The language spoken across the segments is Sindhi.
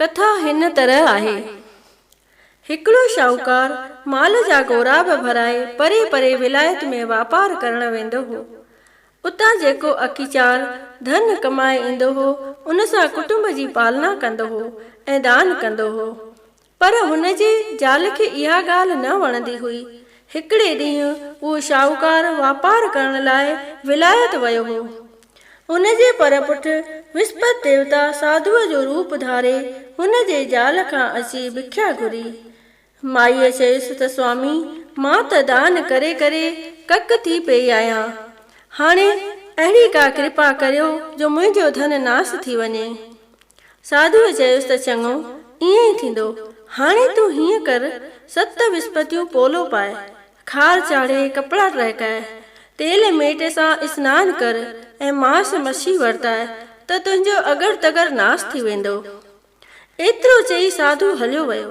ڪٿا هن طرح آهي، هڪڙو شاهوڪار مال جا غوراب ڀرائي پري پري ولايت ۾ واپار ڪرڻ ويندو هو. اتان جيڪو اڪي چار ڌن ڪمائي ايندو هو، ان سان ڪٽنب جي پالنا ڪندو هو ۽ دان ڪندو هو. پر هن جي زال کي اها ڳالهه نه وڻندي هئي. هڪڙي ڏينهن اهو شاهوڪار واپار ڪرڻ لاء ولايت ويو هو. هن جي پر پٺ وسپت ديوتا ساڌوء جو روپ ڌاري هن جي زال کان اچي ڀکيا گهري. مائيء چيس ته سوامي مان ته دان ڪري ڪري ڪڪ ٿي پيئي آهيان. هاڻي اهڙي ڪا ڪرپا ڪريو جو منهنجو ڌن ناس ٿي وڃي. ساڌوء چيس ته چڱو، ائين ئي ٿيندو. هاڻي تون هيئن ڪر، ست وسپتيون پولو پاء، خار چاڙهي، ڪپڙا ٽهڪاء، تيل ميٽ سان اسنان ڪر ۽ ماس مڇي ورتاء ته تنهنجو اڳر تڳر ناس ٿي ويندو. ايترو چئي ساڌو هليو ويو.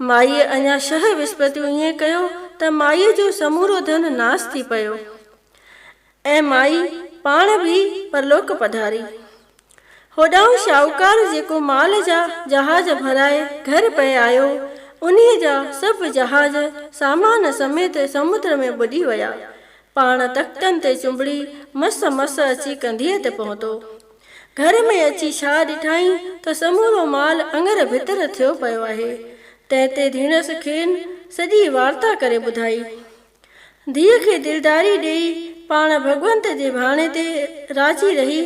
مائيء اڃا شهه وسپتيون ائين ڪيو ته مائيء جو سمورو ڌن ناس ٿي پيو. ۽ مائي پاڻ به پرلوڪ پڌاري. هوڏانهن شاهوڪار جيڪو مال جا جهاز ڀرائي گهر پئي آيو، انهيء جا سڀ جهاز سامان سميت سمنڊ ۾ ٻڏي ويا. پاڻ تختن تي چنبڙي مس مس اچي ڪنڌيء تي پهتو. گهر ۾ اچي ڇا ڏٺائين ته سمورو مال اڱر ڀتر ٿيو پيو آهي. تنهن تي ڌيڻس کين سڄي وارتا ڪري ٻڌائي. ڌيء کي دلداري ڏيئي پاڻ ڀڳونت جي ڀاڻي تي راضي رهي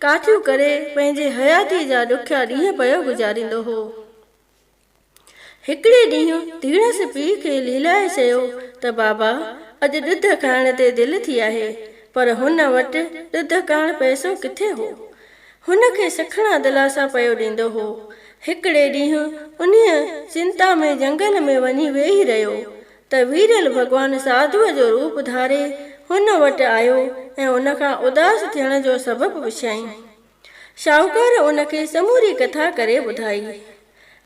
ڪاٺيون ڪري پنهنجي حياتيء جا ڏکيا ڏينهن پيو گذاريندو هو. هڪڙي ڏينهن ڌيڻس پيء کي ليلائي چيو ته بابا اڄ ڏڌ کائڻ تي دل ٿي آهي پر هن وٽ ڏڌ ڪاڻ پئسو ڪٿي هو. هن کي سکڻا دلاسا پيو ڏيندو هو. هڪڙي ڏينهن انهيء چنتا ۾ جهنگل ۾ وڃي ويهي رهيو ته ويرل ڀڳوان ساڌوء جو روپ ڌاري هن وٽ آيو ۽ ان کان اداس ٿيڻ جو سبب پڇيائين. شاهوڪار ان کي سموري ڪٿا ڪري ٻڌائي.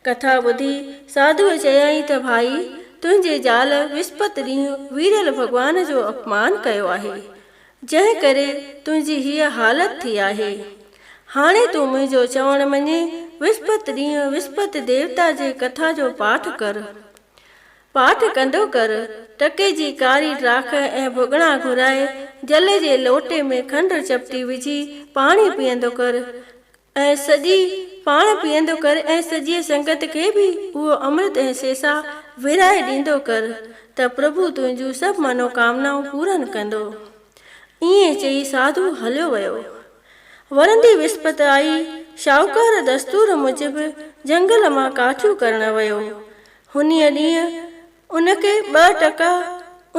ڪٿا ٻڌي ساڌوء چيائين ته ڀائي تنهنجي زال وسپت ڏينهن ويرل ڀڳوان جو اپمان ڪيو آهي، جنهن ڪري تنهنجي هيء حالت ٿي آهي. هاڻي تون منهنجو چوڻ مڃي وسپت ڏينهن وسپت ديوتا جي ڪٿا جو پاٺ ڪر. پاٺ ڪنڊو ڪر، ٽڪي جي ڪاري ڊاک ۽ ڀڳڙا گهرائي، جل جي لوٽي ۾ کنڊ چپٽي وجهي پاڻي پيئندو ڪر ۽ سڄي پاڻ پيئندو ڪر ۽ سڄيء سنگت کي به اهو امرت ۽ سيسا ورهائي ڏيندو ڪر ته پرڀو تنهنجون سڀ منوڪامنائون پورن ڪندو. ائين چئي ساڌو هليو ويو. ورندي وسپت آئي، شاهوڪار دستور موجب جهنگل مان ڪاٺيون ڪرڻ ويو. انهيء ڏينهن ان کي ٻه ٽڪا،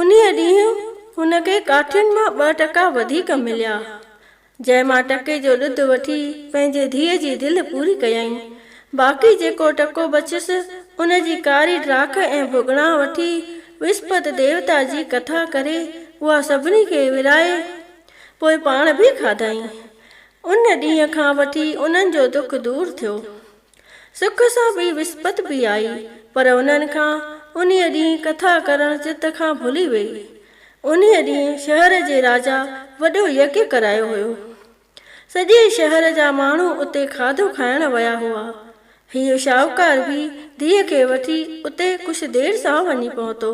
انهيء ڏينهن هن کي ڪاٺين مان ٻه ٽڪا وڌيڪ مليا، جنهن مان ٽڪي جو ڏڌ وٺي پنهنجي ڌيء جي دل پوري ڪيائين. باقي جيڪو ٽڪو بچيس، ان جي ڪاري ڊاک ۽ ڀڳڻا وٺي وسپت ديوتا جي ڪٿا ڪري اها سڀني کي ورهائي، پوء پاڻ به کاڌائين. ان ڏينهن کان وٺي انهن جو دک دور ٿيو. سک سان ٻي وسپت به آئي، پر انهن کان انهيء ڏينهن ڪٿا ڪرڻ چت کان ڀلي ويئي. انهيء ڏينهن شهر جي راجا وڏو يگ ڪرايو هيو. سڄي شهر جا ماڻهو اتي کاڌو کائڻ ويا هئا. هيء شاهوڪار به ڌيء کي وٺي اتي ڪجهه دير سان وڃي پهتو،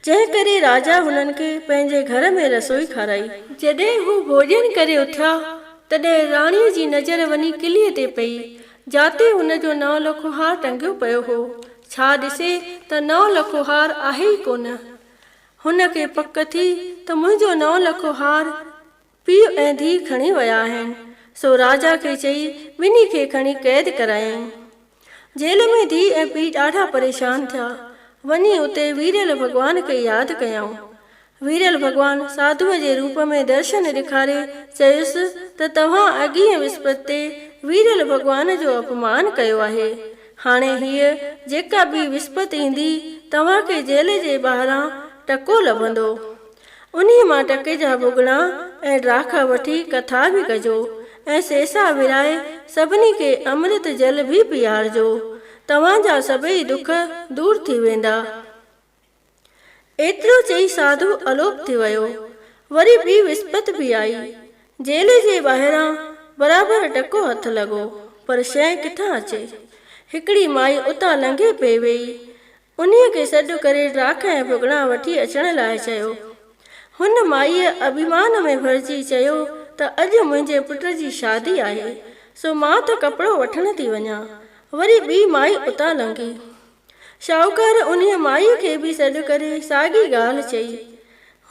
جنهن ڪري راجا هنن کي پنهنجي گهر ۾ رسوئي کارائي. جڏهن هو ڀوڄن ڪري اٿيا تڏهن راڻيء جي نظر وڃي ڪليء تي پئي، جاتي ان جو نئون لکو هار ٽنگيو پيو هو. ڇا ڏسي ته نئون لکو هار آهي ئي ڪونه. هن کي پڪ ٿي ته منهنجو نئون لکو هار پيء ۽ ڌيء کڻي ويا آهن. سو راجا کي چئي ٻنهي کي کڻي قيد ڪرايائين. جيل ۾ ڌيء ۽ پيء ڏاڍا پريشان ٿيا. وڃي اتي ويريل ڀڳوان کي ياد ڪيائون. ويريل ڀڳوان ساڌوء جي روپ ۾ درشن ڏيکاري چيس ته توهان اڳينء وسپت تي ويريل ڀڳوان جو اپمان ڪيو آهي. هاڻي هيء جيڪا ٻي وسپت ايندي توهان کي جيل جي ٻاهران ٽڪو لڀندو. انهيء مان ٽڪي جا ڀڳڙا ۽ ڊاکا وٺي ڪٿا به ڪجو ۽ سيسا ورهائي سڀني کي امرت جل به پيئارجو. توهان جا سڀئي دک دور ٿي ويندا. ايترو چئي ساڌو الوپ ٿي ويو. وري ٻي وسپت به آئي. جيل جي ٻاهران برابر ٽڪو هٿ لڳو، پر شيء ڪٿان اچي. هڪڙي مائي اتان لنگهي پئي ويئي. انهيء کي سڏ ڪري ڊاک ۽ ڀڳڙا وٺي اچڻ لاء چيو. هن مائيء اڀيمان ۾ ڀرجي چيو ته اڄ منهنجي پٽ جي شادي آهي، سو مان ته ڪپڙو وٺڻ ٿي وڃان. وري ٻي مائي اتان لنگهي. شاهوڪار انهيء مائيء کي به سڏ ڪري ساڳي ڳالهه چئي.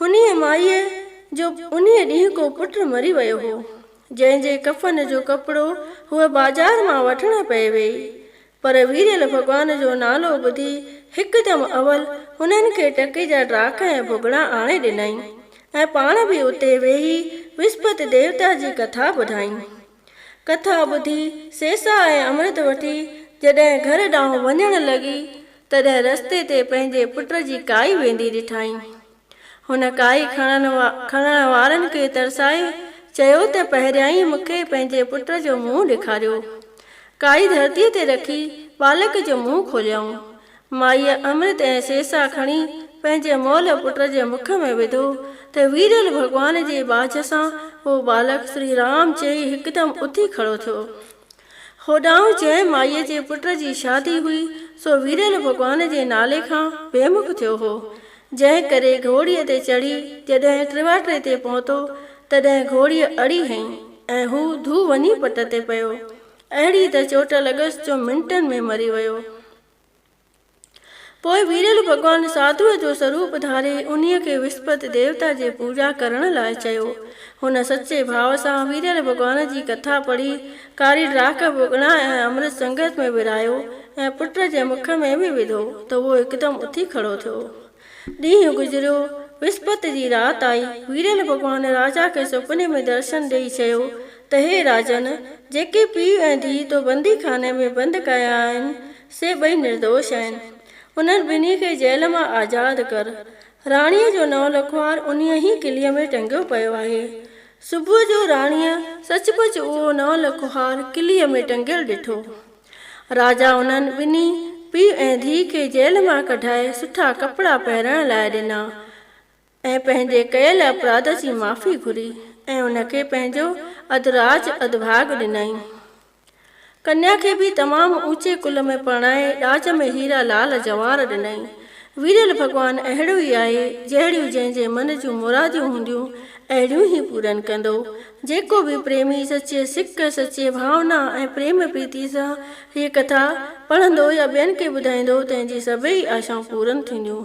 انهيء مائيء جو انهيء ڏينهن ڪو پٽ مري ويو هو، جنهن جي ڪفن جو ڪپڙو هوء بازار مان وٺڻ پئي ويئي. پر ويريل ڀڳوان جو نالو ٻڌي هڪدم اول هنن کي ٽڪي جا ڊاک ۽ ڀڳڙا آڻي ڏنائين ۽ پاڻ به اتي ويهي وسپت ديوتا جي ڪٿا ٻڌائين. ڪٿا ٻڌي سيسا ۽ امرت وٺي جڏهن گهر ڏانهن وڃڻ لڳي، تڏهن رستي تي پنهنجي پٽ جي ڪائي ويندي ڏٺائين. هن ڪاهي کڻڻ وارن کي ترسائي چيو ته پهريائين مون کي پنهنجي پٽ جو منهن ڏيکاريو. ڪاهي ڌرتيء تي رکي ٻالڪ جو منهن کوليائون. مائيء امرت ۽ سيسا کڻي پنهنجي مئل پٽ جي مک ۾ وڌو ته ويرل ڀڳوان جي ٻاجهه سان هو ٻالڪ سري رام چئي هڪدم اٿي کڙو ٿيو. هوڏانهن جنهن مائيء جي پٽ جي شادي هئي، سو ويريل ڀڳوان جي نالي کان بي مک ٿيو هو، جنهن ڪري گهوڙيء تي چڙهي جڏهن ٽرواٽري تي پهتو، تڏهن گهوڙيء اڙي هنئي ۽ هو ڌو وڃي پٽ تي پيو. اهڙي ته چوٽ لڳس جو منٽن ۾ مري ويو. پوء ويرل ڀڳوان ساڌوء جو سروپ ڌاري انهيء کي وسپت ديوتا جي پوڄا ڪرڻ لاء چيو. هن سچي ڀاء سان ويرل ڀڳوان جي ڪٿا پڙهي، ڪاري ڊاڪ به اڳڻا ۽ امرت سنگت ۾ ورهايو ۽ پٽ جي مک ۾ به وڌو ته اهو هڪدم اٿي کڙو ٿيو. ڏينهن گذريو، وسپت جي رات آئي، ويرل ڀڳوان راجا کي سپني ۾ درشن ڏيئي چيو ته هي راجن! جيڪي پيء ۽ ڌيء تو بندي خاني ۾ بند ڪيا آهن، سي ٻئي نردوش آهن. انهن ٻنهي کي جيل مان آزاد ڪر. راڻيء جو نو لکوار انهيء ئي قلعي ۾ ٽنگيو پيو آهي. صبح جو راڻيء سچ پچ اهو نو لکوار قلعي ۾ ٽنگيل ڏٺو. راجا انهن ٻنهي پيء ۽ ڌيء کي جيل مان ڪڍائي سٺا ڪپڙا پهرائڻ لاء ڏنا. ۽ پنهنجي ڪيل اپراڌ جي معافي گهري ۽ ان کي پنهنجو اڌراج اڌڀاڳ ڏنائين. ڪنيا کي به تمام اوچي ڪل ۾ پرڻائي ڏاج ۾ هيرا لال جواهر ڏنائين. ويريل ڀڳوان اهڙو ئي آهي، جهڙيون جنهن جي من جون مراديون هونديون، اهڙيون ئي پورن ڪندو. جيڪو به پريمي سچي سڪ، سچي ڀاونا ۽ پريم پريتي سان هيء ڪٿا پڙهندو يا ٻين کي ٻڌائيندو، تنهن جي سڀيئي آشائون پورن ٿينديون.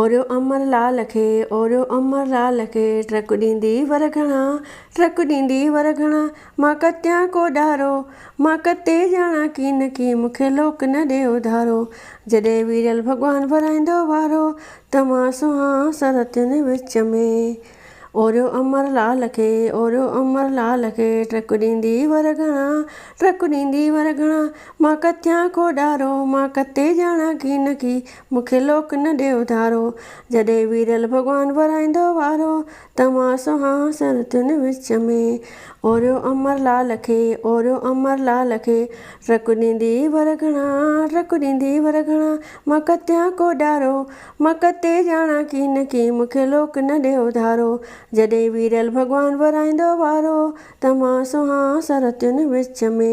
اوريو امر لعل کي اوريو امر لعل کي ٽرڪ ڏيندي ور گهڻا ٽرڪ ڏيندي ور گهڻا مان ڪتيان ڪو ڏارو مان ڪتي ڄاڻان ڪين ڪي مون کي لوڪ نه ڏي اڌارو جڏهن ويڙهيل ڀڳوان ورائيندو وارو ته مان سونهان سرتين وچ ۾. اوريو امر لعل کي اوريو امر لعل کي ٽرڪ ڏيندي ور گهڻا ٽرڪ ڏيندي ور گهڻا مان ڪتيان ڪو ڏارو مان ڪتي ڄاڻان ڪين ڪي مون کي لوڪ نه ڏي اڌارو. جڏهن ويرل ڀڳوان ورائيندو وارو، ته مان سونهان سرتين وچ ۾. اوريو امر لال کي، اوريو امر لال کي، ٽرڪ ڏيندي ور گهڻا، ٽرڪ ڏيندي ور گهڻا، مان ڪتيان ڪو ڏارو، مان ڪتي ڄاڻان ڪين ڪين، مون کي لوڪ نه ڏي اڌارو. جڏهن ويرل ڀڳوان ورائيندو وارو، ته مان سونهان سرتين وچ ۾.